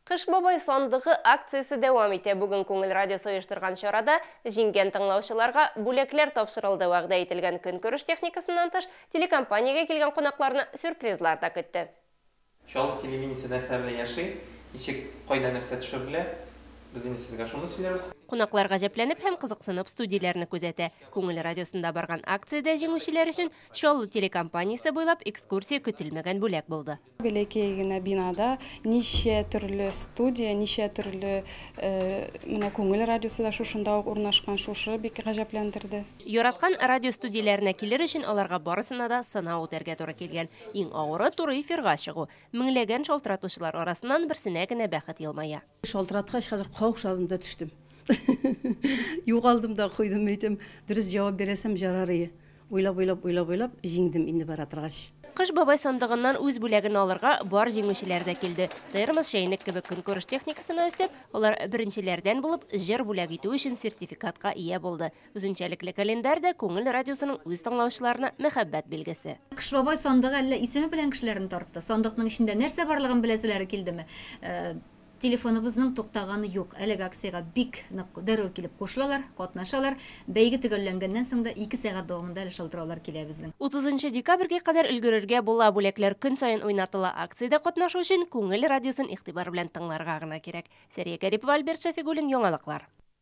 Кыш бабай сандыгы акциясе дәвам итә. Бүген Күңел радиосы оештырган чарада җиңгән тыңлаучыларга бүләкләр тапшырылды. Вәгъдә ителгән көнкүреш техникасыннан тыш, телекомпаниягә килгән кунакларны сюрпризлар да көтте. Чаллы телевидениесе нәрсә белән яши, ничек, кайда нәрсә төшерелә, без инде сезгә шуны сөйләрбез. Кунаклар гаҗәпләнеп һәм кызыксынып студияләрне күзәтә. Күңел радиосында барган акциядә җиңүчеләр өчен Чаллы телекомпаниесе буйлап экскурсия көтелмәгән бүләк булды. Бәләкәй генә бинада ничә төрле студия, ничә төрле Менә Күңел радиосы да шушында ук урнашкан, шушы бик гаҗәпләндерде. Яраткан радиостудияләренә килер өчен аларга барысына да сынау үтәргә туры килгән. Иң авыры, туры эфирга чыгу. Меңләгән шалтыратучылар арасыннан берсенә генә бәхет елмая. Шалтыраткач, хәзер каушадым да төштем. Югалдым да куйдым, әйтәм, дөрес җавап бирәсәм, җарарые. Уйлап-уйлап, уйлап-уйлап, җиңдем инде бара торгач. Кыш бабай сандыгыннан үз бүләген алырга бар җиңүчеләр дә килде. Термос, чәйнек кебек көнкүреш техникасына өстәп, алар беренчеләрдән булып җыр бүләк итү өчен сертификатка ия булды. Үзенчәлекле календарь да Күңел радиосының үз тыңлаучыларына мәхәббәт билгесе. Кыш бабай сандыгы әллә исеме белән кешеләрне тартты? Сандыкның эчендә нәрсә барлыгын беләселәре килдеме? Телефоныбызның туктаганы юк. Әлеге акциягә бик нык дәррәү килеп кушылалар, катнашалар. Бәйге төгәлләнгәннән соң да ике сәгать дәвамында әле шалтыраулар килә безнең. Утызынчы декабрьгә кадәр өлгерергә була, бүләкләр көн саен уйнатыла. Акциядә катнашу өчен Күңел радиосын игътибар белән тыңларга гына кирәк. Сәрия Гарипова, Альберт Шәфигуллин, Яңалыклар.